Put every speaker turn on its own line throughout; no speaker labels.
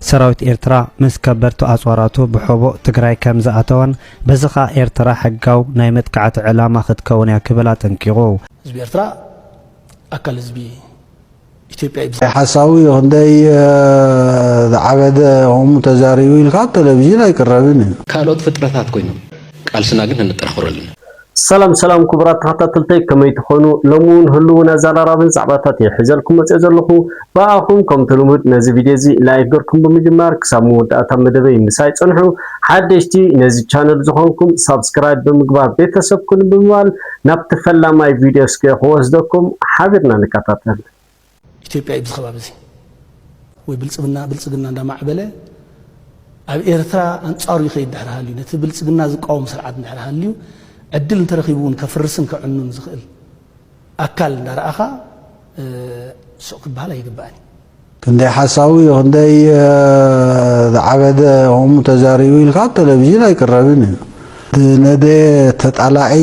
ሰራዊት ኤርትራ ምስ ከበድቲ ኣጽዋራቱ ብሖቦ ትግራይ ከም ዝኣተወን በዚ ከኣ ኤርትራ ሕጋው ናይ መጥቃዕቲ ዕላማ ክትከውን እያ ክብል ኣጠንቂቑ። ህዝቢ ኤርትራ
ኣካል ህዝቢ ኢትዮጵያ እዩ። ሓሳዊ
ክንደይ ዝዓበደ ከምኡ ተዛሪቡ ኢልካ ኣብ ተለቪዥን ኣይቅረብን እዩ። ካልኦት ፍጥረታት
ኮይኖም ቃልስና ግን ከነጠናኽሮ ኣለና። ሰላም ሰላም
ኩቡራት ተኸታተልተይ ከመይ ትኾኑ ሎሚ ውን ህሉውን ኣዛራራብን ዛዕባታት እየ ሒዘልኩም መጺኦ ዘለኹ ብኣኹም ከምቲ ልሙድ ነዚ ቪድዮ እዚ ላይክ ገርኩም ብምጅማር ክሳብ መወዳእታ መደበይ ምሳይ ጽንሑ ሓደሽቲ ነዚ ቻነል ዝኾንኩም ሳብስክራይብ ብምግባር ቤተሰብ ኩኑ ብምባል ናብቲ ፈላማይ ቪድዮ እስከ ክወስደኩም ሓቢርና ንከታተል ኢትዮጵያ
ኢብዚ ከባቢ እዚ ወይ ብልፅብና ብልፅግና እንዳማዕበለ ኣብ ኤርትራ ኣንጻሩ ይኸይድ ድሕሪ ሃልዩ ነቲ ብልፅግና ዝቃወም ስርዓት ድሕሪ ሃልዩ ዕድል እንተረኺቡ እውን ከፍርስን ከዕኑን ዝኽእል ኣካል እንዳረኣኻ ስቕ ክበሃል ኣይግባእን እዩ። ክንደይ
ሓሳዊ ክንደይ ዝዓበደ ከምኡ ተዛሪቡ ኢልካ ኣብ ቴሌቪዥን ኣይቅረብን እዩ። ዝነደየ ተጣላዒ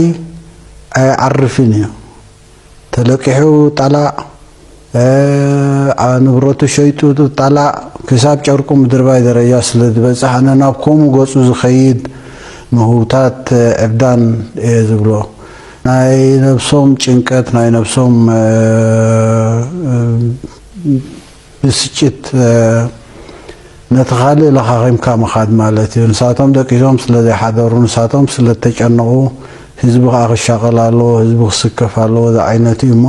ኣይዓርፍን እዩ። ተለቂሑ ጣላእ ንብረቱ ሸይጡ ጣላእ ክሳብ ጨርቁ ምድርባይ ደረጃ ስለዝበጽሕ ኣነ ናብ ከምኡ ገጹ ዝኸይድ ምህውታት ዕብዳን እየ ዝብሎ። ናይ ነብሶም ጭንቀት ናይ ነብሶም ብስጭት ነቲ ካልእ ለኻኺምካ ምኻድ ማለት እዩ። ንሳቶም ደቂሶም ስለዘይሓደሩ፣ ንሳቶም ስለዝተጨነቑ፣ ህዝቢ ከኣ ክሻቐል ኣለዎ፣ ህዝቢ ክስከፍ ኣለዎ ዝዓይነቱ እዩ እሞ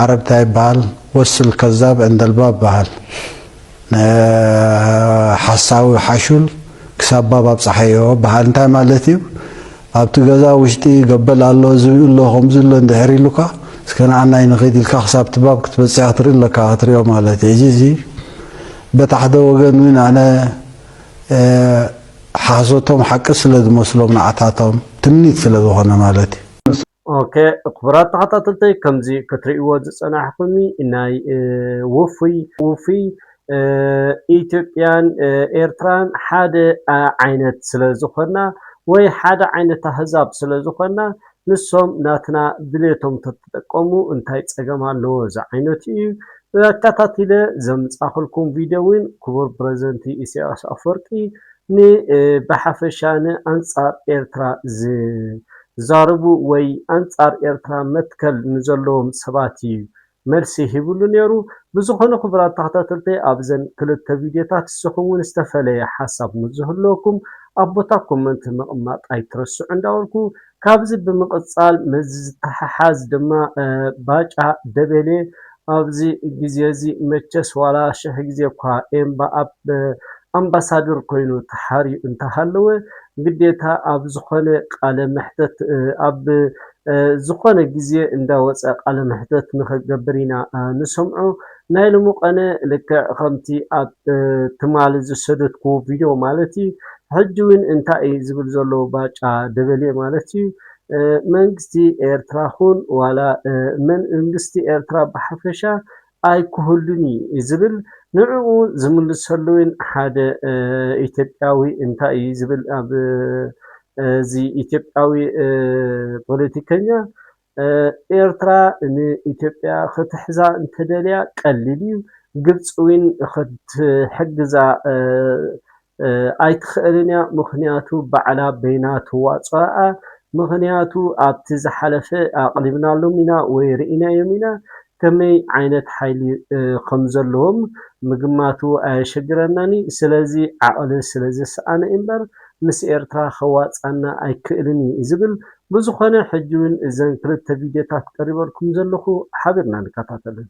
ዓረብ እንታይ ይበሃል ወስል ከዛብ ዕንደልባብ በሃል ንሓሳዊ ሓሹል ክሳብ ባብ ኣብጸሓዮ በሃል እንታይ ማለት እዩ? ኣብቲ ገዛ ውሽጢ ገበል ኣሎ ዝብኢ ኣሎ ከምዚ ኣሎ እንድሕር ኢሉካ እስከ ንዓናይ ንኺድ ኢልካ ክሳብ እቲ ባብ ክትበጽሕ ክትርኢ ኣለካ ክትሪኦ ማለት እዩ ሕጂ እዚ በት ሓደ ወገን ውን ኣነ ሓሶቶም ሓቂ ስለ ዝመስሎም ንዓታቶም ትምኒት ስለ ዝኾነ ማለት እዩ። ኦኬ
ክቡራት ተኸታተልተይ ከምዚ ክትርእይዎ ዝጸናሕኩሚ ናይ ውፉይ ውፉይ ኢትዮጵያን ኤርትራን ሓደ ዓይነት ስለ ዝኾና ወይ ሓደ ዓይነት ኣህዛብ ስለ ዝኾና ንሶም ናትና ድሌቶም ተተጠቀሙ እንታይ ጸገም ኣለዎ ዝዓይነቱ እዩ ኣከታቲለ ዘምጻኹልኩም ቪድዮ እውን ክቡር ፕረዚደንቲ ኢሳያስ ኣፈወርቂ ንብሓፈሻ ንኣንጻር ኤርትራ ዝዛረቡ ወይ ኣንጻር ኤርትራ መትከል ንዘለዎም ሰባት ኢዩ መልሲ ሂብሉ ኔሩ ብዝኾነ ክቡራት ተኸታተልተይ ኣብዘን ክልተ ቪድዮታት ስኹምውን ዝተፈለየ ሓሳብ ምስዝህልወኩም ኣብ ቦታ ኮመንት ምቕማጥ ኣይትረስዑ እንዳበልኩ ካብዚ ብምቕጻል ምስዚ ዝተሓሓዝ ድማ ባጫ ደበሌ ኣብዚ ግዜዚ መቸስ ዋላ ሽሕ ግዜ እኳ ኤምባኣብ ኣምባሳደር ኮይኑ ተሓርዩ እንተሃለወ ግዴታ ኣብ ዝኾነ ቃለ መሕተት ኣብ ዝኾነ ግዜ እንዳወጸ ቃለ መሕተት ንኽገብር ኢና ንሰምዖ ናይ ሎሚ ቐነ ልክዕ ኸምቲ ኣብ ትማሊ ዝሰደድክዎ ቪድዮ ማለት እዩ ሕጂ ውን እንታይ እዩ ዝብል ዘሎ ባጫ ደበሌ ማለት እዩ መንግስቲ ኤርትራ ኹን ዋላ መንእንግስቲ ኤርትራ ብሓፈሻ ኣይክህሉን እዩ ዝብል ንዕኡ ዝምልሰሉ ውን ሓደ ኢትዮጵያዊ እንታይ እዩ ዝብል ኣብ እዚ ኢትዮጵያዊ ፖለቲከኛ ኤርትራ ንኢትዮጵያ ክትሕዛ እንተደልያ ቀሊል እዩ ግብፂ ውን ክትሕግዛ ኣይትክእልን እያ ምክንያቱ ባዕላ በይና ትዋፆኣ ምክንያቱ ኣብቲ ዝሓለፈ ኣቅሪብናሎም ኢና ወይ ሪኢናዮም ኢና ከመይ ዓይነት ሓይሊ ከምዘለዎም ምግማቱ ኣየሸግረናን እዩ ስለዚ ዓቅሊ ስለዘሰኣነ እምበር ምስ ኤርትራ ከዋፅኣና ኣይክእልን እዩ ዝብል ብዝኮነ ሕጂ ውን እዘን ክልተ ቪድዮታት ቀሪበልኩም ዘለኩ ሓቢርና ንከታተለን።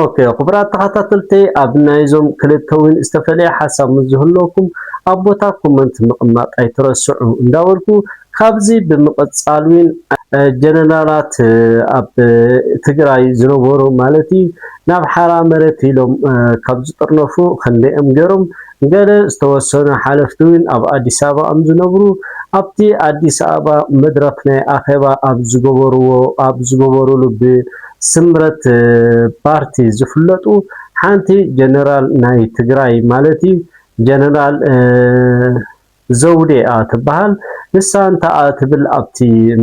ኦኬ
ክቡራት ተኸታተልተይ ኣብ ናይዞም ክልተ ውን ዝተፈለየ ሓሳብ ምስ ዝህልወኩም ኣብ ቦታ ኮመንት ምቕማጥ ኣይትረስዑ እንዳበልኩ ካብዚ ብምቕጻል ውን ጀነራላት ኣብ ትግራይ ዝነበሩ ማለት እዩ ናብ ሓራ መሬት ኢሎም ካብ ዝጥርነፉ ክንደይኦም ገይሮም ገለ ዝተወሰኑ ሓለፍቲ ውን ኣብ ኣዲስ ኣበባ እም ዝነብሩ ኣብቲ ኣዲስ ኣበባ መድረኽ ናይ ኣኼባ ኣብ ዝገበርዎ ኣብ ዝገበርሉ ብ ስምረት ፓርቲ ዝፍለጡ ሓንቲ ጀነራል ናይ ትግራይ ማለት ጀነራል ዘውዴ'ያ ትባሃል ንሳ እንታ'ያ ትብል ኣብቲ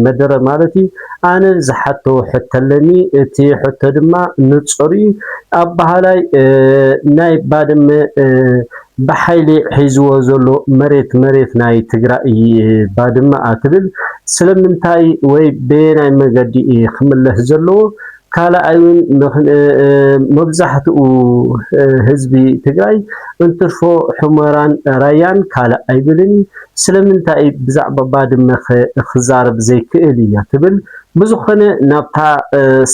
መደረ ማለት'ዩ ኣነ ዝሓቶ ሕቶ ኣለኒ እቲ ሕቶ ድማ ንጹር'ዩ ኣባሃላይ ናይ ባድመ ብሓይሊ ሒዝዎ ዘሎ መሬት መሬት ናይ ትግራይ'ዩ ባድመ'ያ ትብል ስለምንታይ ወይ በየናይ መገዲ'ዩ ክምለስ ዘለዎ ካልኣይን መብዛሕትኡ ህዝቢ ትግራይ እንትርፎ ሑመራን ራያን ካልእ ኣይብልን ስለምንታይ ብዛዕባ ባድመኸ ክዛረብ ዘይክእል እያ ትብል ብዝኾነ ናብታ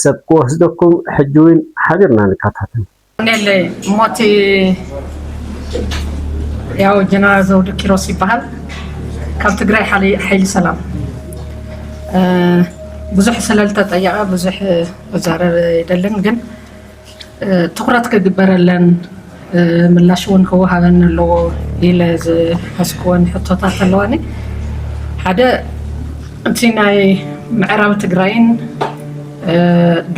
ሰብ ክወስደኩም ሕጂውን ሓቢርና ንከታተል። ኮኔል
ሞት ያው ጀነራል ዘውዱ ኪሮስ ይበሃል ካብ ትግራይ ሓይሊ ሰላም ብዙሕ ስለልተጠየቐ ብዙሕ መዛረብ ይደልን ግን ትኩረት ክግበረለን ምላሽ እውን ክወሃበን ኣለዎ ኢለ ዝሓስክወን ሕቶታት ኣለዋኒ ሓደ እቲ ናይ ምዕራብ ትግራይን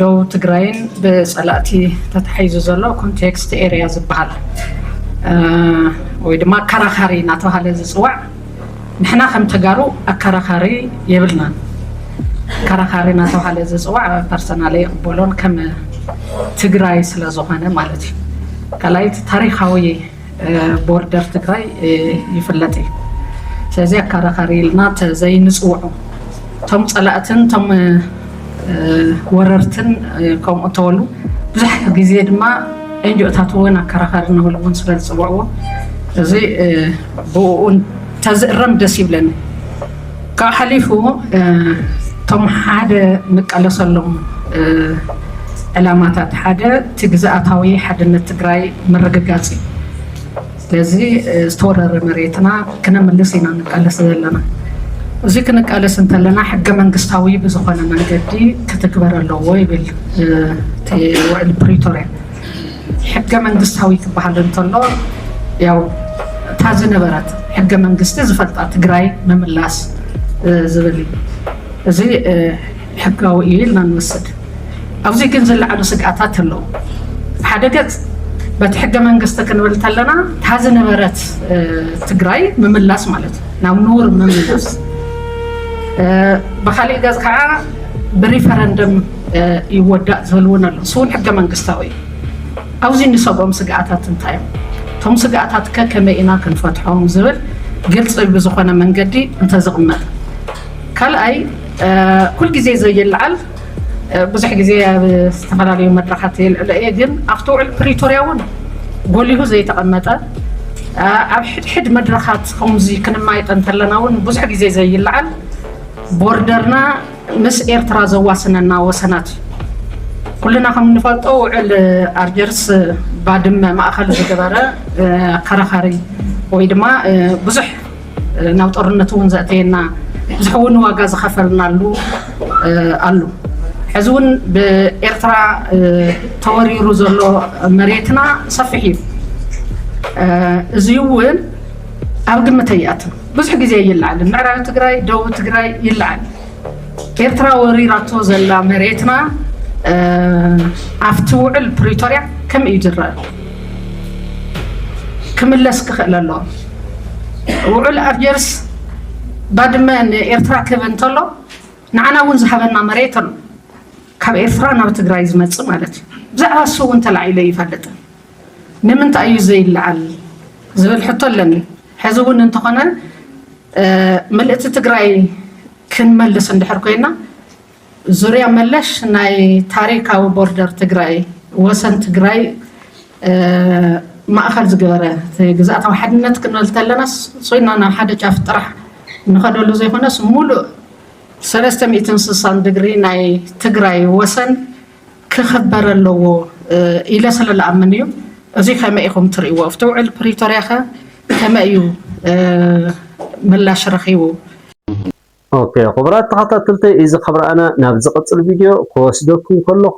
ዶብ ትግራይን ብፀላእቲ ተታሒዙ ዘሎ ኮንቴክስት ኤርያ ዝበሃል ወይ ድማ ኣከራኻሪ እናተባሃለ ዝፅዋዕ ንሕና ከም ተጋሩ ኣከራኻሪ የብልናን። ኣከራኻሪ እናተባሃለ ዝፅዋዕ ፐርሰናል ይቕበሎን ከም ትግራይ ስለዝኾነ ማለት እዩ። ካልኣይቲ ታሪካዊ ቦርደር ትግራይ ይፍለጥ እዩ ስለዚ ኣካራኻሪ ኢልና ዘይንፅውዖ እቶም ፀላእትን እቶም ወረርትን ከምኡ እተበሉ ብዙሕ ግዜ ድማ ኤንጂኦታት እውን ኣከራኸሪ ንብል እውን ስለ ዝፅውዕዎ እዚ ብኡ እንተዝእረም ደስ ይብለኒ ካብኡ ሓሊፉ እቶም ሓደ ንቃለሰሎም ዕላማታት ሓደ እቲ ግዝኣታዊ ሓድነት ትግራይ ምርግጋፅ እዩ። ስለዚ ዝተወረረ መሬትና ክነምልስ ኢና ንቃለስ ዘለና። እዚ ክንቃለስ እንተለና ሕገ መንግስታዊ ብዝኾነ መንገዲ ክትግበር ኣለዎ ይብል እቲ ውዕሊ ፕሪቶርያ። ሕገ መንግስታዊ ክበሃል እንተሎ ያው እታ ዝነበረት ሕገ መንግስቲ ዝፈልጣ ትግራይ ምምላስ ዝብል እዩ። እዚ ሕጋዊ እዩ ኢልና ንወስድ። ኣብዚ ግን ዝለዓሉ ስግኣታት ኣለዉ። ሓደ ገፅ በቲ ሕገ መንግስቲ ክንብል ከለና እታ ዝነበረት ትግራይ ምምላስ ማለት እዩ፣ ናብ ንቡር ምምላስ። ብካሊእ ገፅ ከዓ ብሪፈረንደም ይወዳእ ዝብል እውን ኣሎ። ንሱ እውን ሕገ መንግስታዊ እዩ። ኣብዚ እንሰግኦም ስግኣታት እንታይ እዮም? እቶም ስግኣታት ከ ከመይ ኢና ክንፈትሖም ዝብል ግልፂ ብዝኾነ መንገዲ እንተዝቕመጥ። ካልኣይ ኩል ግዜ ዘይልዓል ብዙሕ ግዜ ኣብ ዝተፈላለዩ መድረኻት የልዕሎ እየ ግን ኣብቲ ውዕል ፕሪቶርያ እውን ጎሊሁ ዘይተቐመጠ ኣብ ሕድሕድ መድረኻት ከምዚ ክንማየጠ እንተለና እውን ብዙሕ ግዜ ዘይልዓል ቦርደርና ምስ ኤርትራ ዘዋስነና ወሰናት እዩ። ኩልና ከም እንፈልጦ ውዕል ኣልጀርስ ባድመ ማእኸል ዝገበረ ኣከራኻሪ ወይ ድማ ብዙሕ ናብ ጦርነት እውን ዘእተየና ብዙሕ እውን ዋጋ ዝኸፈልናሉ ኣሉ ሕዚ እውን ብኤርትራ ተወሪሩ ዘሎ መሬትና ሰፊሕ እዩ። እዚ እውን ኣብ ግምት ኣይኣትን። ብዙሕ ግዜ ይለዓል ምዕራብ ትግራይ ደቡብ ትግራይ ይለዓል ኤርትራ ወሪራቶ ዘላ መሬትና ኣብቲ ውዕል ፕሪቶርያ ከመይ እዩ ዝረአ ክምለስ ክኽእል ኣለዎ ውዕል ኣልጀርስ ባድመ ንኤርትራ ክህብ እንተሎ ንዓና እውን ዝሃበና መሬት ኣሎ ካብ ኤርትራ ናብ ትግራይ ዝመፅእ ማለት እዩ ብዛዕባ እሱ እውን ተላዒለ ይፈልጥ ንምንታይ እዩ ዘይለዓል ዝብል ሕቶ ኣለኒ ሕዚ እውን እንተኾነ ምልእቲ ትግራይ ክንመልስ እንድሕር ኮይና ዙርያ መለሽ ናይ ታሪካዊ ቦርደር ትግራይ ወሰን ትግራይ ማእኸል ዝገበረ ግዝኣታዊ ሓድነት ክንበል ተለናስ ሶይና ናብ ሓደ ጫፍ ጥራሕ ንኸደሉ ዘይኮነስ ሙሉእ ሰለስተ ሚእትን ስሳን ድግሪ ናይ ትግራይ ወሰን ክኽበር ኣለዎ ኢለ ስለ ልኣምን እዩ። እዙይ ከመይ ኢኹም ትርእይዎ? ኣብቲ ውዕል ፕሪቶርያ ከ ከመይ እዩ ምላሽ ረኺቡ?
ኦኬ ክቡራት ተኸታተልተይ እዚ ካብ ረኣና ናብ ዝቕጽል ቪድዮ ክወስደኩም ከለኹ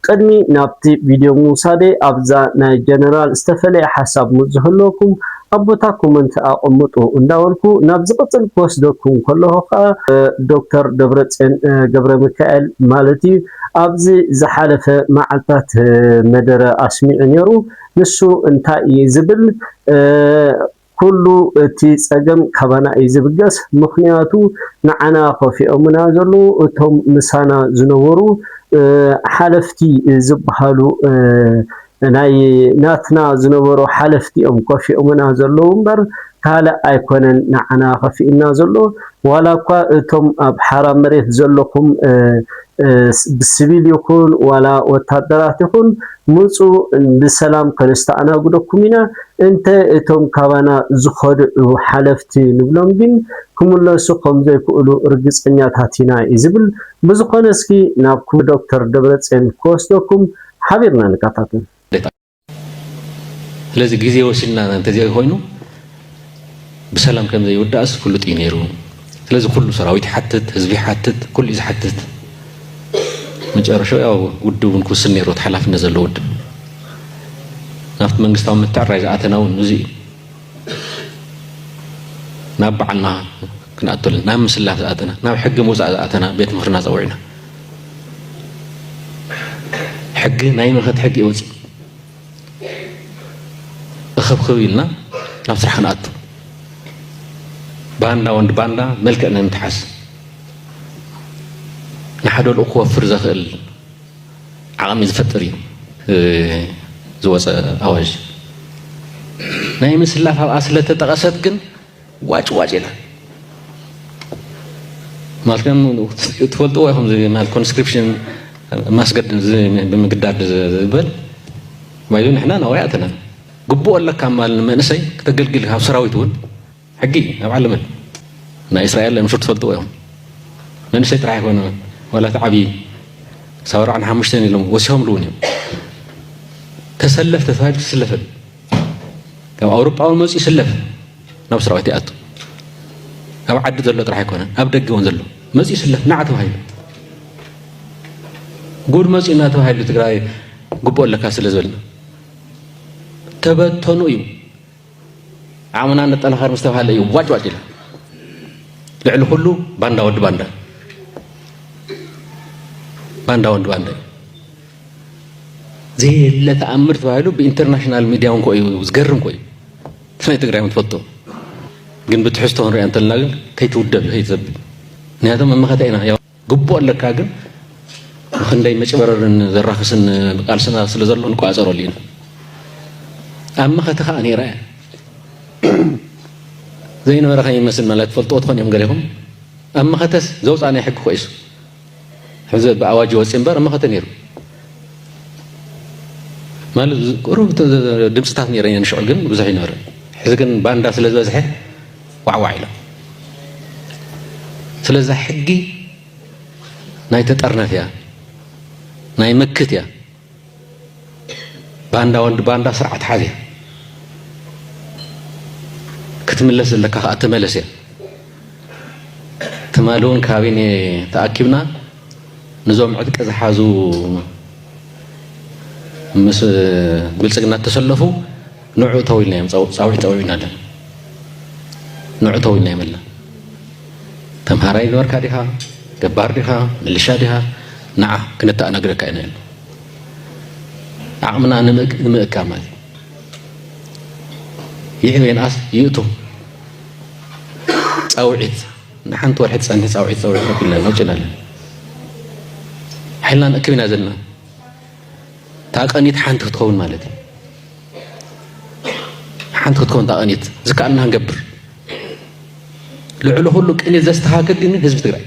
ቅድሚ ናብቲ ቪድዮ ምውሳደይ ኣብዛ ናይ ጀነራል ዝተፈለየ ሓሳብ ምስ ዝህልወኩም ኣብ ቦታ ኮመንት ኣቐምጡ እንዳበልኩ ናብ ዝቕጽል ክወስደኩም ከለኹ ከኣ ዶክተር ደብረጽዮን ገብረሚካኤል ማለት እዩ ኣብዚ ዝሓለፈ መዓልታት መደረ ኣስሚዑ ነይሩ። ንሱ እንታይ እዩ ዝብል? ኩሉ እቲ ጸገም ካባና እዩ ዝብገስ፣ ምኽንያቱ ንዓና ከፊኦምና ዘለዉ እቶም ምሳና ዝነበሩ ሓለፍቲ ዝበሃሉ ናይ ናትና ዝነበሩ ሓለፍቲ እዮም ከፊኦምና ዘለዉ እምበር ካልእ ኣይኮነን ንዓና ከፊኡና ዘሎ ዋላ እኳ እቶም ኣብ ሓራ መሬት ዘለኩም ብስቪል ይኹን ዋላ ወታደራት ይኹን ምፁ ብሰላም ከነስተኣናግደኩም ኢና እንተ እቶም ካባና ዝኸድዑ ሓለፍቲ ንብሎም ግን ክምለሱ ከም ዘይክእሉ ርግፀኛታት ኢና እዩ ዝብል ብዝኾነ እስኪ ናብ ክቡር ዶክተር ደብረፅዮን ክወስደኩም ሓቢርና ንከታተል።
ስለዚ ግዜ ወሲድና እንተዘይኮይኑ ብሰላም ከም ዘይውዳእስ ፍሉጥ እዩ ነይሩ። ስለዚ ኩሉ ሰራዊት ይሓትት፣ ህዝቢ ይሓትት፣ ኩሉ እዩ ዝሓትት። መጨረሻ ያው ውድብ እውን ክውስን ነይሩ፣ ሓላፍነት ዘለዎ ውድብ ናብቲ መንግስታዊ ምትዕራይ ዝኣተና እውን እዚ እዩ። ናብ በዓልና ክንኣተሉ ናብ ምስላ ዝኣተና ናብ ሕጊ ምውፃእ ዝኣተና ቤት ምክርና ፀዊዕና ሕጊ ናይ ምኸት ሕጊ ይወፅእ እኸብክብ ኢልና ናብ ስራሕ ክንኣቱ ባንዳ ወንድ ባንዳ መልክዕ ነንትሓስ ንሓደ ልኡ ክወፍር ዘኽእል ዓቕሚ ዝፈጥር እዩ ዝወፀ ኣዋጅ ናይ ምስላፍ ኣብኣ ስለተጠቐሰት ግን ዋጭ ዋጭ ኢላ ማለት ከም ትፈልጥዎ ኢኹም ማለት ኮንስክሪፕሽን ማስገድ ብምግዳድ ዝበል ባይዞ ንሕና ናብኡ ኣተና ግቡኦ ኣለካ ማል መንእሰይ ከተገልግል ካብ ሰራዊት እውን ሕጊ እዩ ኣብ ዓለመን ናይ እስራኤል ኣምሹር ትፈልጥዎ ኢኹም መንእሰይ ጥራሕ ኣይኮነ ዋላ እቲ ዓብዪ ክሳብ ኣርባዕን ሓሙሽተን ኢሎም ወሲኾምሉ እውን እዮም ተሰለፍ ተተባሂሉ ትስለፍን ካብ ኣውሮጳዊ መፅኡ ይስለፍ ናብ ሰራዊት ይኣቱ ኣብ ዓዲ ዘሎ ጥራሕ ኣይኮነን ኣብ ደገ እውን ዘሎ መፅኡ ይስለፍ ናዓ ተባሂሉ ጉድ መፅኡ እናተባሂሉ ትግራይ ግቡእ ኣለካ ስለ ዝበልና ተበተኑ እዩ ዓቕምና ነጠናኸር ምስ ተባህለ እዩ ዋጭዋጭ ኢላ ልዕሊ ኩሉ ባንዳ ወዲ ባንዳ ባንዳ ወዲ ባንዳ ዘየለ ተኣምር ተባሂሉ ብኢንተርናሽናል ሚድያ እንኮ እዩ ዝገርም ኮ እዩ ናይ ትግራይ ትፈልጡ ግን ብትሕዝቶ ክንሪኣ እንተለና ግን ከይትውደብ ከይትዘብል ምክንያቱም መመኸተ ኢና ግቡእ ኣለካ ግን ንክንደይ መጭበረርን ዘራክስን ቃልስና ስለ ዘሎ ንቋጸረሉ ኢና ኣብ መኸተ ከዓ ነይረ እያ ዘይነበረ ከይመስል ማለት ትፈልጥዎ ትኾን እዮም ገሌኹም ኣብ መኸተስ ዘውፃ ናይ ሕጊ ኮይሱ ሕዚ ብኣዋጅ ወፂ እምበር ኣብ መኸተ ነይሩ ማለት ቁሩብ ድምፅታት ነይረ ንሽዑ ግን ብዙሕ ይነበረ ሕዚ ግን ባንዳ ስለ ዝበዝሐ ዋዕዋዕ ኢሎም ስለዛ ሕጊ ናይ ተጠርነፍ እያ ናይ መክት እያ ባንዳ ወዲ ባንዳ ስርዓት ሓዝ እያ ክትምለስ ዘለካ ከዓ ተመለስ እያ ትማሊ እውን ካቢነ ተኣኪብና ንዞም ዕጥቂ ዝሓዙ ምስ ብልፅግና እተሰለፉ ንዑ ተው ኢልናዮም ፃውዒት ፀዊዑና ኣለና ንዑ ተው ኢልናዮም ኣለና ተምሃራይ ነበርካ ዲኻ ገባር ዲኻ ምልሻ ዲኻ ንዓ ክነተኣናግደካ ኢና ኢሉ ዓቕምና ንምእካ ማለት ይዕብ የንኣስ ይእቱ ፃውዒት ንሓንቲ ወርሒ ትፀንሒ ፃውዒት ፀውዒት ኣቢልና ነውፅና ኣለና ሓይልና ንእክብ ኢና ዘለና ታቀኒት ሓንቲ ክትከውን ማለት እዩ ሓንቲ ክትከውን ታቀኒት ዝከኣልና ንገብር ልዕሊ ኩሉ ቅኒት ዘስተካክል ግን ህዝቢ ትግራይ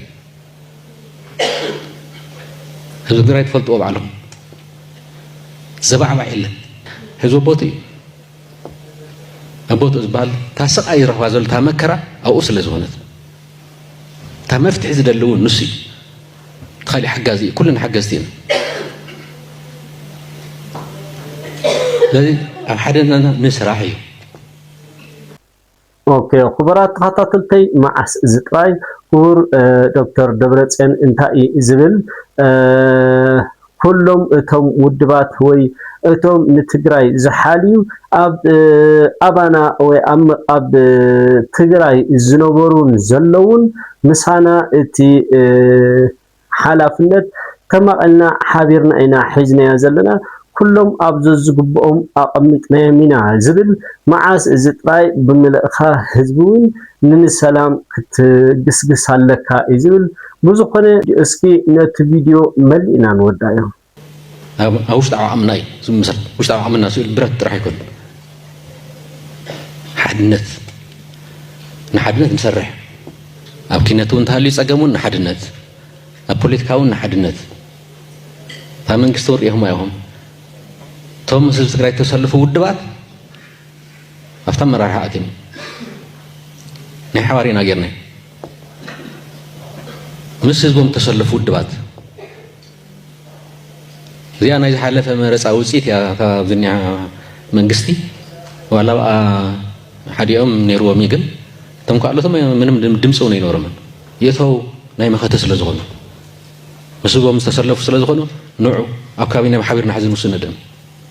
ህዝቢ ትግራይ ትፈልጥዎ ባዕሎም ዘባዕባዕ የለን ህዝቢ ኣቦቱ እዩ ኣቦቱ ዝበሃል እታ ስቃይ ይረኽባ ዘሎ እታ መከራ ኣብኡ ስለ ዝኾነት እታ መፍትሒ ዝደሊ እውን ንሱ እዩ ኻሊእ ሓጋዚ እዩ ኩልና ሓገዝቲ ኢና ስለዚ ኣብ ሓደ ናና ንስራሕ እዩ
ኦኬ ክቡራት ተኸታተልተይ መዓስ እዚ ጥራይ ክቡር ዶክተር ደብረፅዮን እንታይ እዩ ዝብል ኩሎም እቶም ውድባት ወይ እቶም ንትግራይ ዝሓልዩ ኣብ ኣባና ወይ ኣብ ትግራይ ዝነበሩን ዘለዉን ምሳና እቲ ሓላፍነት ተማቒልና ሓቢርና ኢና ሒዝናዮ ዘለና። ኩሎም ኣብ ዘዝግብኦም ኣቐሚጥናዮም ኢና ዝብል መዓስ እዚ ጥራይ ብምልእካ ህዝቢ ውን ንንሰላም ክትግስግስ ኣለካ እዩ ዝብል ብዝኮነ እስኪ ነቲ ቪድዮ መሊእና ንወዳዮ። ኣብ
ውሽጣዊ ዓቕምና እዩ ዝምስረት። ውሽጣዊ ዓቕምና ስእሊ ብረት ጥራሕ ኣይኮነን። ሓድነት ንሓድነት ንሰርሕ። ኣብ ኪነት እውን ተሃልዩ ፀገም እውን ንሓድነት፣ ኣብ ፖለቲካ እውን ንሓድነት እታ መንግስቲ ወሪኢኹማ ኢኹም። እቶም ምስ ህዝቢ ትግራይ ተሰልፉ ውድባት ኣብቲ ኣመራርሓ ኣቲና ናይ ሓባር ኢና ጌርና ምስ ህዝቦም ተሰለፉ ውድባት እዚኣ ናይ ዝሓለፈ መረፃ ውፅኢት እያ ካብዝኒያ መንግስቲ ዋላ ብኣ ሓዲኦም ነይርዎም እዩ ግን እቶም ካልኦቶም ምንም ድምፂ እውን ኣይነበሮምን የእተው ናይ መኸተ ስለ ዝኾኑ ምስ ህዝቦም ዝተሰለፉ ስለ ዝኾኑ ንዑ ኣብ ካቢነ ሓቢርና ሕዚ ንውስነደም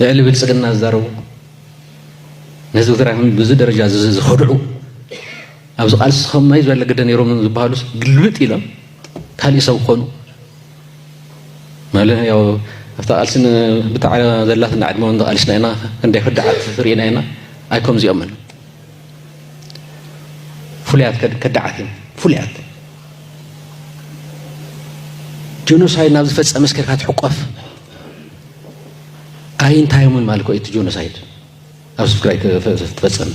ልዕሊ ብልፅግና ዝዛረቡ ነዚ ትግራይ ብዙ ደረጃ ዝኸድዑ ኣብዚ ቃልሲ ከማይ ዝበለ ግደ ነይሮም ዝበሃሉ ግልብጥ ኢሎም ካልእ ሰብ ክኾኑ ማለት ያው ኣብታ ቃልሲ ብታዕ ዘላትና ዕድመ ቃልስና ኢና ክንደይ ክድዓት ርኢና ኢና ኣይከምዚኦምን ፍሉያት ከዳዓት እዮም ፍሉያት ጆኖሳይድ ናብ ዝፈፀመ ስከርካ ትሕቆፍ ኣይ እንታይ እዮምን ማለት ኮ እቲ ጆኖሳይድ ኣብ ትግራይ ትፈፀም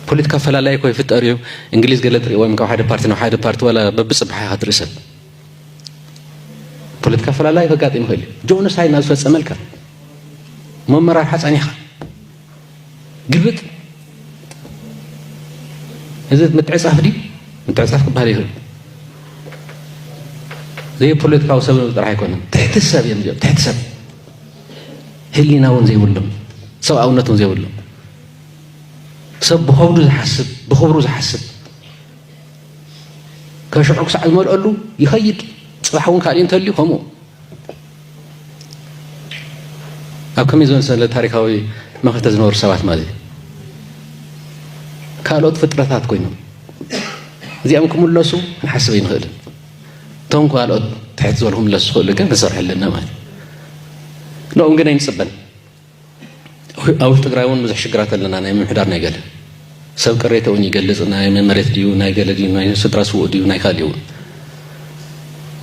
ፖለቲካ ኣፈላላይ ኮ ይፍጠር እዩ እንግሊዝ ገለ ትሪእዎም ካብ ሓደ ፓርቲ ናብ ሓደ ፓርቲ ዋላ በብፅባሕ ኢኻ ትርኢ ሰብ ፖለቲካ ኣፈላላይ ከጋጥም ይኽእል እዩ ጆኖሳይድ ናብ ዝፈፀመልካ መመራርሓ ፀኒሕኻ ግልብጥ እዚ ምትዕጻፍ ድዩ ምትዕጻፍ ክበሃል ይኽእል ዘይፖለቲካዊ ሰብ ጥራሕ ኣይኮነን ትሕቲ ሰብ እዮም እዚኦም ትሕቲ ሰብ ህሊና እውን ዘይብሎም ሰብኣውነት እውን ዘይብሎም ሰብ ብኸብዱ ዝሓስብ ብኽብሩ ዝሓስብ ከሽዑ ክሳዕ ዝመልአሉ ይኸይድ ፅባሕ እውን ካልእ እንተልዩ ከምኡ ኣብ ከመይ ዝመሰለ ታሪካዊ መኸተ ዝነበሩ ሰባት ማለት እዩ ካልኦት ፍጥረታት ኮይኖም እዚኦም ክምለሱ ክንሓስብ ኣይንኽእልን እቶም ካልኦት ትሕት ዝበሉ ክምለሱ ዝኽእሉ ግን ክንሰርሐለና ማለት እዩ ንኦም ግን ኣይንፅበን ኣብ ውሽጢ ትግራይ እውን ብዙሕ ሽግራት ኣለና ናይ ምምሕዳር ናይ ገለ ሰብ ቅሬተ እውን ይገልፅ ናይ መመሬት ድዩ ናይ ገለ ድዩ ናይ ስድራ ስውእ ድዩ ናይ ካልእ እውን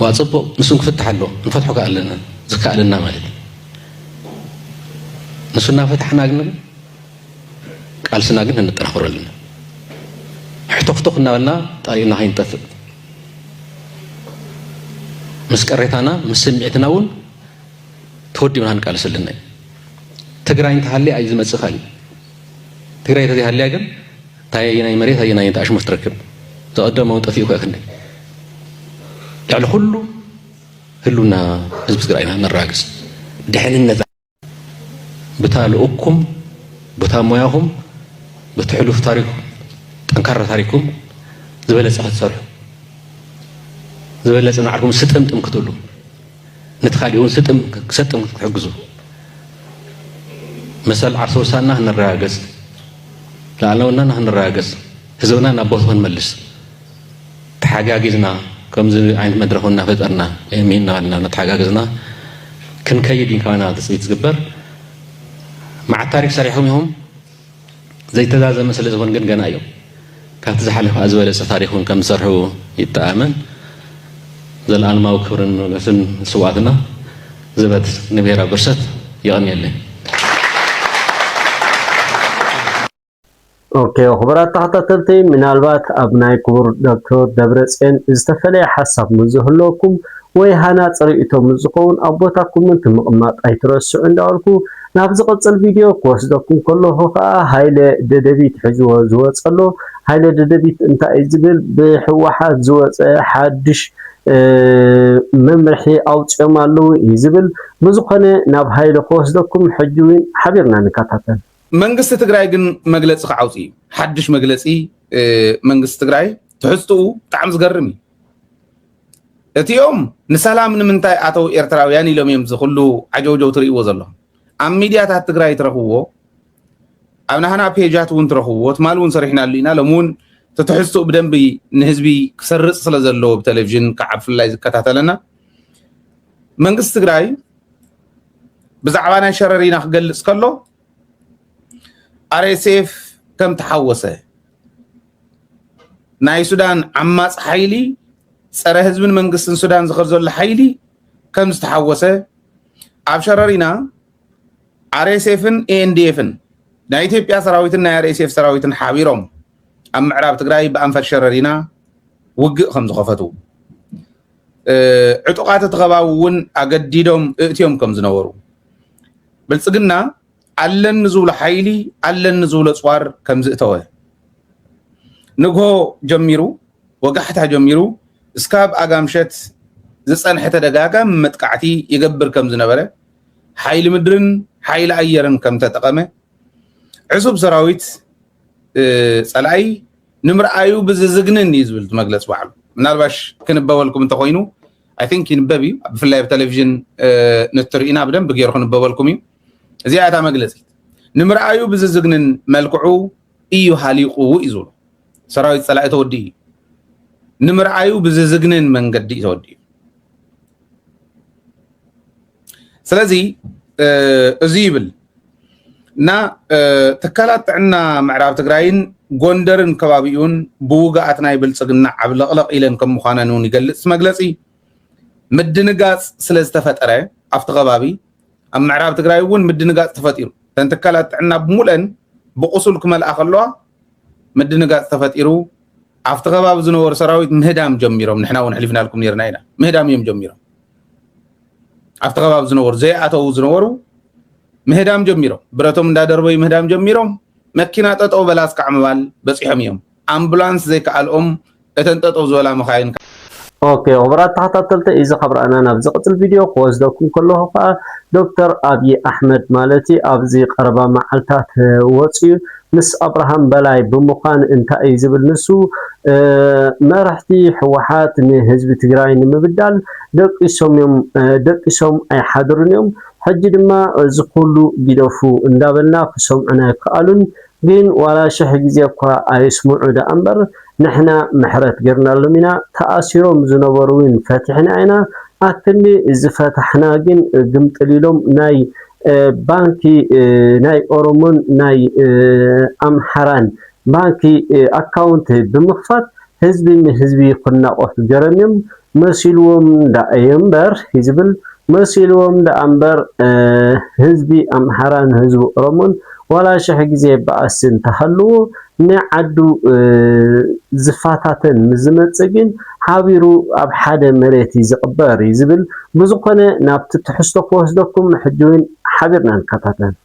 ዋ ፅቡቅ ንሱን ክፍትሕ ኣሎ ንፈትሖ ከዓ ኣለና ዝከኣለና ማለት ንሱ እናፈታሕና ግን ቃልስና ግን እንጠናኽሮ ኣለና ሕቶክቶክ እናበልና ጣሪኡና ከይንጠፍእ ምስ ቀሬታና ምስ ስምዒትና እውን ተወዲብና ክንቃለስ ኣለና እዩ ትግራይ እንተሃልያ እዩ ዝመፅእ ካልእ ትግራይ ተዘይሃልያ ግን እንታይ ኣየናይ መሬት ኣየናይ እንታይ ኣሽሙር ትረክብ ዝቐደም እውን ጠፊኡ ክእክኒ ልዕሊ ኩሉ ህሉና ህዝቢ ትግራይ ኢና ነረጋግፅ ድሕንነት ብታ ልኡኩም ብታ ሞያኹም በቲ ሕሉፍ ታሪኩም ጠንካራ ታሪኩም ዝበለፀ ክትሰርሑ ዝበለፀ ናዕርኩም ስጥምጥም ክትብሉ ነቲ ካሊእ እውን ስጥም ክሰጥም ክትሕግዙ መሰል ዓርሰ ውሳና ክንረጋገፅ ላዕለውናና ክንረጋገፅ ህዝብና ናብ ቦቱ ክንመልስ ተሓጋጊዝና ከምዚ ዓይነት መድረኽ እናፈጠርና ሚ እናበልና እናተሓጋገዝና ክንከይድ እዩ ካባና ትፅቢት ዝግበር መዓት ታሪክ ሰሪሖም ኢኹም ዘይተዛዘመ ስለ ዝኹን ግን ገና እዩ። ካብቲ ዝሓለፈ ኣዝበለጸ ታሪኽ እውን ከም ዝሰርሑ ይተኣመን። ዘልኣልማዊ ክብርን ሞገስን ንስውኣትና፣ ዘበት ንብሄራዊ ብርሰት። የቐንየለይ።
ኦኬ ክቡራት ተኸታተልቲ ምናልባት ኣብ ናይ ክቡር ዶክተር ደብረፅዮን ዝተፈለየ ሓሳብ ምስ ዝህልወኩም ወይ ሃናፂ ርእይቶ ምስ ዝኸውን ኣብ ቦታኩም ምቅማጥ ኣይትረስዑ እንዳበልኩ ናብ ዝቅጽል ቪድዮ ክወስደኩም ከለኩ ከኣ ሃይለ ደደቢት ሕዝዎ ዝወጸ ኣሎ ሃይለ ደደቢት እንታይ እዩ ዝብል ብሕዋሓት ዝወጸ ሓድሽ መምርሒ ኣውጺኦም ኣለዉ እዩ ዝብል ብዝኮነ ናብ ሃይለ ክወስደኩም ሕጂ ዊን ሓቢርና ንከታተል። መንግስቲ ትግራይ
ግን መግለፂ ክዓውፅ እዩ ሓዱሽ መግለፂ መንግስቲ ትግራይ ትሕዝትኡ ብጣዕሚ ዝገርም እዩ። እቲኦም ንሰላም ንምንታይ ኣተው ኤርትራውያን ኢሎም እዮም ዝኩሉ ዓጀውጀው ትርእይዎ ዘለኹም ኣብ ሚድያታት ትግራይ ትረኽብዎ ኣብ ናህና ፔጃት እውን ትረኽብዎ ትማል እውን ሰሪሕናሉ ኢና ሎም እውን ትትሕዝትኡ ብደንቢ ንህዝቢ ክሰርፅ ስለ ዘለዎ ብቴሌቭዥን ከዓ ብፍላይ ዝከታተለና መንግስቲ ትግራይ ብዛዕባ ናይ ሸረሪና ክገልፅ ከሎ RSF ከም ተሓወሰ ናይ ሱዳን ዓማፅ ሓይሊ ፀረ ህዝብን መንግስትን ሱዳን ዝኸድ ዘሎ ሓይሊ ከም ዝተሓወሰ ኣብ ሸረሪና ኣርኤስኤፍን ኤንዲኤፍን ናይ ኢትዮጵያ ሰራዊትን ናይ ኣርኤስኤፍ ሰራዊትን ሓቢሮም ኣብ ምዕራብ ትግራይ ብኣንፈት ሸረሪና ውግእ ከም ዝኸፈቱ ዕጡቓት እቲ ከባቢ እውን ኣገዲዶም እእትዮም ከም ዝነበሩ ብልፅግና ኣለን ንዝብሎ ሓይሊ ኣለን ንዝብሎ ፅዋር ከም ዝእተወ ንግሆ ጀሚሩ ወጋሕታ ጀሚሩ እስካብ ኣጋምሸት ዝፀንሐ ተደጋጋሚ መጥቃዕቲ ይገብር ከም ዝነበረ ሓይሊ ምድርን ሓይሊ ኣየርን ከም ተጠቐመ ዕሱብ ሰራዊት ፀላኢ ንምርኣዩ ብዝዝግንን እዩ ዝብል መግለፂ ባዕሉ ምናልባሽ ክንበበልኩም እንተኮይኑ ኣይ ቲንክ ይንበብ እዩ ብፍላይ ኣብ ቴሌቭዥን ንትርኢና ብደንብ ገይሩ ክንበበልኩም እዩ እዚኣ እታ መግለፂት ንምርኣዩ ብዝዝግንን መልክዑ እዩ ሃሊቑ እዩ ዝብሉ ሰራዊት ፀላኢ ተወዲ እዩ ንምርኣዩ ብዝዝግንን መንገዲ እዩ ተወዲ እዩ ስለዚ እዚ ይብል እና ትካላት ጥዕና ምዕራብ ትግራይን ጎንደርን ከባቢኡን ብውግኣት ናይ ብልፅግና ዓብለቕለቕ ኢለን ከም ምዃነን እውን ይገልፅ መግለፂ ምድንጋፅ ስለ ዝተፈጠረ ኣብቲ ከባቢ ኣብ ምዕራብ ትግራይ እውን ምድንጋፅ ተፈጢሩ እተን ትካላት ጥዕና ብሙለን ብቁሱል ክመልኣ ከለዋ ምድንጋፅ ተፈጢሩ ኣብቲ ከባቢ ዝነበሩ ሰራዊት ምህዳም ጀሚሮም ንሕና እውን ሕሊፍናልኩም ነርና ኢና ምህዳም እዮም ጀሚሮም ኣብቲ ከባቢ ዝነበሩ ዘይኣተዉ ዝነበሩ ምህዳም ጀሚሮም ብረቶም እንዳደርበዩ ምህዳም ጀሚሮም መኪና ጠጠው በላ እስካዕ ምባል በፂሖም እዮም ኣምቡላንስ ዘይከኣልኦም እተን ጠጠው ዝበላ መኻይን ኦኬ
ክቡራት ተኸታተልቲ እዚ ካብ ረኣና ናብ ዝቕፅል ቪድዮ ክወስደኩም ከለኹ ከዓ ዶክተር ኣብዪ ኣሕመድ ማለት ኣብዚ ቀረባ መዓልታት ወፅዩ ምስ ኣብርሃም በላይ ብምዃን እንታይ እዩ ዝብል ንሱ መራሕቲ ህወሓት ንህዝቢ ትግራይ ንምብዳል ደቂሶም እዮም ደቂሶም ኣይሓድሩን እዮም ሕጂ ድማ እዚ ኩሉ ጊደፉ እንዳበልና ክሰምዑና ኣይከኣሉን ግን ዋላ ሽሕ ግዜ እኳ ኣይስምዑ ደኣ እምበር ንሕና ምሕረት ገርናሎም ኢና ተኣሲሮም ዝነበሩ ውን ፈቲሕና ኢና ኣክንዲ ዝፈታሕና ግን ግምጥል ኢሎም ናይ ባንኪ ናይ ኦሮሞን ናይ ኣምሓራን ባንኪ ኣካውንት ብምክፋት ህዝቢ ንህዝቢ ክናቆት ገረም እዮም መሲልዎም ዳኣ እዮ እምበር ሂዝብል መሲልዎም ዳኣ እምበር ህዝቢ ኣምሓራን ህዝቢ ኦሮሞን ዋላ ሽሕ ግዜ ባኣሲ እንተሃልዎ ንዓዱ ዝፋታተን ምስ ዝመጽእ ግን ሓቢሩ ኣብ ሓደ መሬት እዩ ዝቅበር እዩ ዝብል ብዝኮነ ናብቲ ትሕዝቶ ክወስደኩም ሕጂ ውን ሓቢርና ንከታተል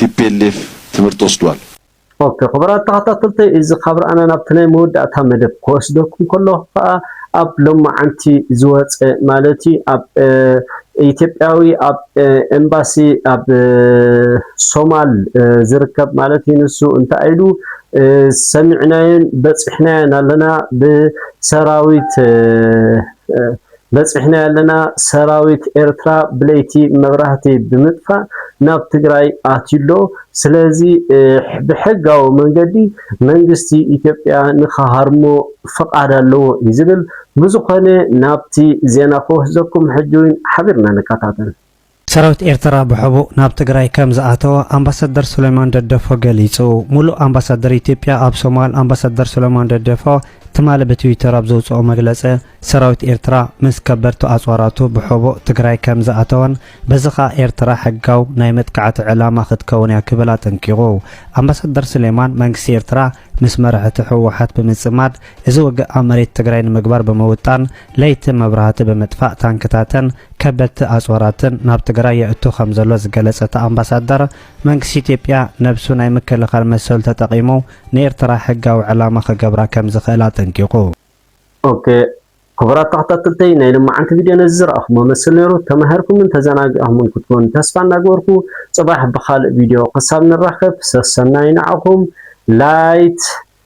tplf ትምህርቲ ወስድዋል። ኦኬ ክቡራት
ተኸታተልተይ እዚ ካብ ርኣና ናብቲ ናይ መወዳእታ መደብ ክወስደኩም ከለኹ ከኣ ኣብ ሎማዓንቲ ዝወጸ ማለት እዩ ኣብ ኢትዮጵያዊ ኣብ ኤምባሲ ኣብ ሶማል ዝርከብ ማለት እዩ ንሱ እንታይ ኢሉ ሰሚዕናዮን በጺሕናዮን ኣለና ብሰራዊት በፂሕናዮ ኣለና ሰራዊት ኤርትራ ብለይቲ መብራህቲ ብምጥፋእ ናብ ትግራይ ኣትዩሎ ስለዚ ብሕጋዊ መንገዲ መንግስቲ ኢትዮጵያ ንክሃርሞ ፍቃድ ኣለዎ እዩ ዝብል ብዝኾነ ናብቲ ዜና ክወስደኩም ሕጂውን ሓቢርና ንከታተል። ሰራዊት
ኤርትራ ብሕቡእ ናብ ትግራይ ከም ዝኣተወ ኣምባሳደር ሱሌማን ደደፎ ገሊጹ። ሙሉእ ኣምባሳደር ኢትዮጵያ ኣብ ሶማል ኣምባሳደር ሱሌማን ደደፎ ትማሊ ብትዊተር ኣብ ዘውጽኦ መግለጺ ሰራዊት ኤርትራ ምስ ከበድቲ ኣጽዋራቱ ብሕቡእ ትግራይ ከም ዝኣተወን በዚ ከኣ ኤርትራ ሕጋው ናይ መጥቃዕቲ ዕላማ ክትከውን እያ ክብል ኣጠንቂቑ። ኣምባሳደር ሱሌማን መንግስቲ ኤርትራ ምስ መራሕቲ ህወሓት ብምጽማድ እዚ ውግእ ኣብ መሬት ትግራይ ንምግባር ብምውጣን ለይቲ መብራህቲ ብምጥፋእ ታንክታትን ከበድቲ ኣፅዋራትን ናብ ትግራይ የእቱ ከምዘሎ ዝገለፀ እቲ ኣምባሳደር፣ መንግስቲ ኢትዮጵያ ነብሱ ናይ ምክልኻል መሰሉ ተጠቒሙ ንኤርትራ ሕጋዊ ዕላማ ክገብራ ከምዝኽእል ኣጠንቂቑ። Ok
ክቡራት ተኸታተልተይ ናይ ልማዓንቲ ቪድዮ ነዚ ዝረኣኹሞ መስል ነይሩ ተማሂርኩምን ተዘናጊዕኹምን ክትኮኑ ተስፋ እናገበርኩ ፅባሕ ብኻልእ ቪድዮ ክሳብ ንራኸብ ሰሰናዩ ንዓኹም Light